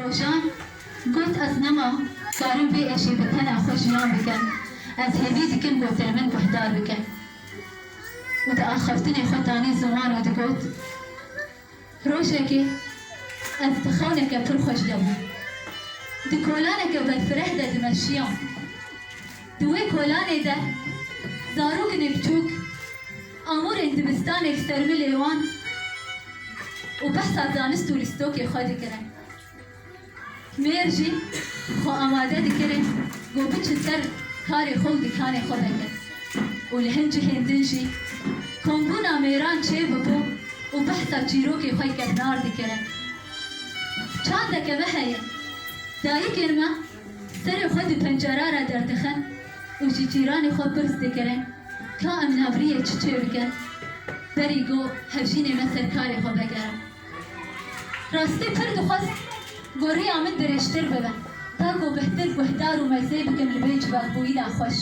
Rojan got, Ez nema karim vê êşê bi tena xwe jiyan bikim, ez hêvî dikim gotin min guhdar bikin û di axaftinê xwe tanî ziwan û digot, Rojekê ez di xewneke pir xweş de bûm, di kolaneke berfireh de dimeşiyam. Di wê kolanê de zarokinê biçûk amûrên dibistanê bi sermilê wan û behsa zanist û lîstokê xwe dikirin. Mêr jî xwe amade dikire ku biçe ser karê xwe û dikanê xwe veke û li hin cihên din jî kombûna mêran çêbibû û behsa çîrokê xwe kevnar dikirin. Çandeke me heye, dayikên me, Serê xwe di pencera re derdixin û ji cîranê xwe pirs dikirin ka em navriyê çi çê bikin berî go hevjînê me ser karê xwe vegerin. Rastî pir dixwest goriya min dirêjtir bibe ta go bihtir guhdar û mezê bikim li vê civakbûyîna xweş.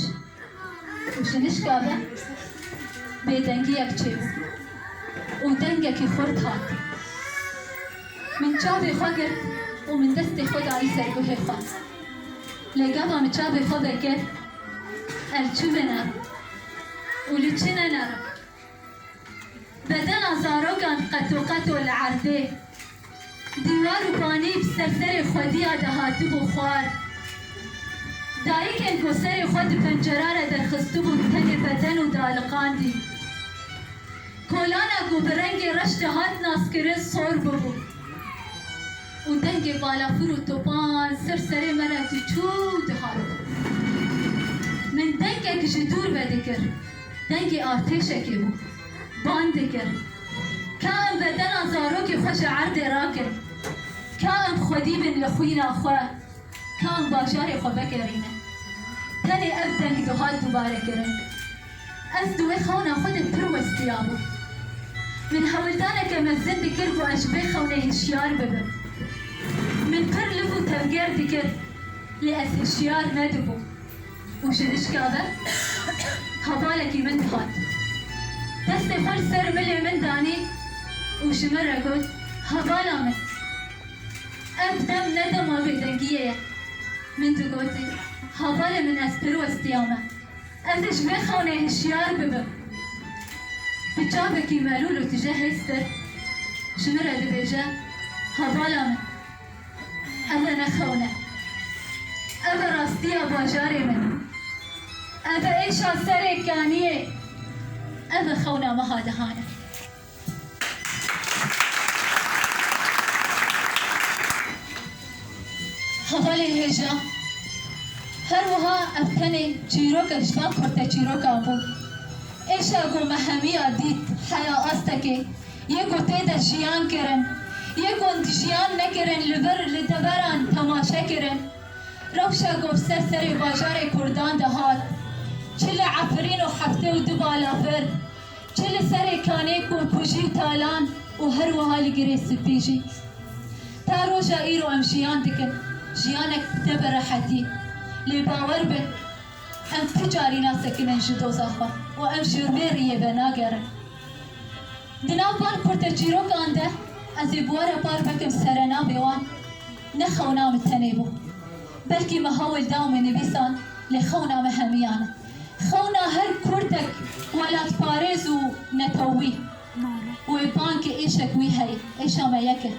Ji nişka ve bêdengiyek çêbû û dengekî xurt hat. Min çavê xwe girt û min destê xwe dayî ser guhê xwe. Lê gava min çavê xwe vekir, ev çi vênerim û li çi nenerim? Bedena zarokan qetoqeto li erdê, dîwar û banî bi ser serê xwedîya de hatibû xwar. Dayikên ku serê xwe di pencera re derxistibûn tenê beden û dialiqandîn. Kolana ku bi rengê reş de hat naskirin sor bûbû û dengê balafir û topan ser serê me re tu çû dihat. Min dengek ji dûr vedikir. Dengê artêşekê bû. Bang dikir. Ka em bedena zarokê xwe ji erdê rakin. Ka em xwedî bin li xwîna xwe. Ka em bajarê xwe vegerînin. Tenê ev deng dihat dûbarekirin. Ez di wê xewna xwe de pir westiyabûm. Min hewldaneke mezin dikir ku ez ji vê xewnê hişyar bibim. Min pir liv û tevger dikir, lê ez hişyar nedibûm. Û ji hişka ve hevalekî min dihat. Destê xwe li ser milê min danî û ji min re got, Hevala min, ev dem ne dema bêdengiyê ye. Min digote, Hevalê min ez pir westiya me. Ez ê ji vê xewnê hişyar bibim. Bi çavekî melûl û tije hêztir ji min re dibêje, Hevala min. Ev e ne xewn e. Ev e rastiya bajarê min. Ev e êşa serê kaniyê. Ev e xewna meha dihan e. Hevalê hêja her wiha ev tenê çîroke ji van kurteçîrokan bû. Êşa ku me hemiya dît heya astekê Yê ku tê de jiyan kirin, yê ku di jiyan nekirin li vir li deveran temaşe kirin. Rewşa Govser serê bajarê Kurdan de hat. Çi li Efirîn û Heftê û du balafir, çi li serê kanê Kûmpûjî û Talan û her wiha li Girê Spî jî. Ta roja îro em jiyan dikin, jiyanek bi te bi rehetî. Lê bawer bin. Ev tu carî nasekinin ji doza xwe û ev jî rûyê rîyê ve nagerin. Di nav par kurteçîrokan de ez ê buwara par bikim serenavê wan ne xewna min tenê bû. Belkî me hewl da min nivîsan lê xewna me hemiyan e. Xewna her kurdek welatparêz û netewî wê ban ke êşek wî heye, êşa me yek e.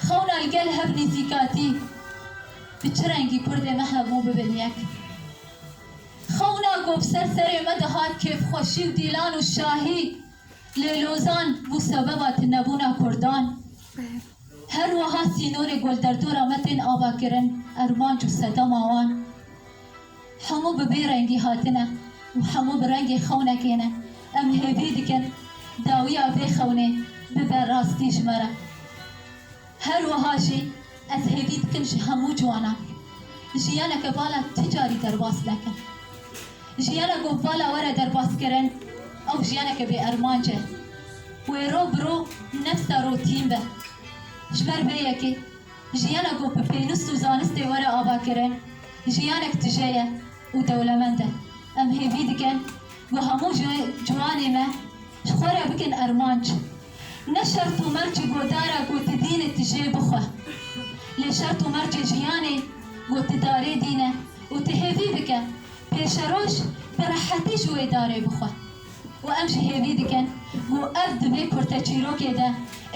Xewna li gel hev nîzîkatî. Bi çi rengî kurdê me hebû bibin yek. Xewna ku bi ser serê me dihat kêfxweşî û dîlan û şahî lê lozan bû sebeba tunebûna kurdan. Her wiha sînorê golderdora me tên avakirin, ermanc û sedema wan hemû bi bê rengî hatine û hemû bi rengê xewnekê ne. Em hêvî dikin dawiya vê xewnê bibe rastî ji me re. Her wiha jî ez hêvî dikim ji hemû ciwanan jiyaneke vala ti carî derbas nekin. Jiyana ku vala were derbaskirin ew jiyaneke bê ermanc e. Wê roj bi roj nefsa rotîn be. Ji ber vê yekê jiyana ku bi pênûst û zanistê were avakirin jiyanek tije ye û dewlemend e. Em hêvî dikin ku hemû ciwanê me, Ji xwe re bikin armanc. Ne şert û mercê godara ku tu dînî tu jê bixwe. Lê şert û mercê jiyanê ku tu darê dîne û tu hêvî bike pêşeroj bi rehetî ji wê darê bixwe. Û em jî hêvî dikin ku ev di vê kurteçîrokê de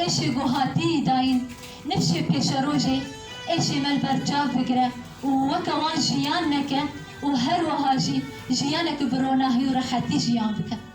êşê ku hatiyî dayîn nifşê pêşerojê êşê me li ber çav bigire û weke wan jiyan neke û her wiha jî jiyaneke bi ronahî û rehetî jiyan bike.